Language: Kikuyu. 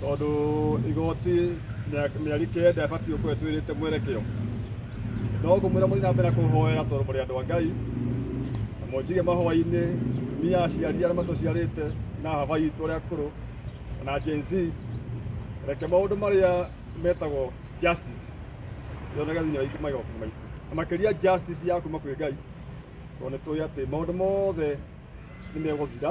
tondũ igoti mĩaka- mĩeri kenda ĩbatiĩ gũkorwo ĩtwĩrĩte mwerekeo no ngũmwĩra mũthiĩ na mbere kũhoera tondũ mũrĩ andũ a ngai na mũnjige mahoya-inĩ niya aciari arĩa matũciarĩte na haba itũ arĩa akũrũ na Gen Z reke maũndũ marĩa metagwo justice yoneke thĩinĩ wa itũ magoti maitũ na makĩria justice ya kuma kwĩ ngai tondũ nĩ tũĩ atĩ maũndũ mothe nĩ megũthira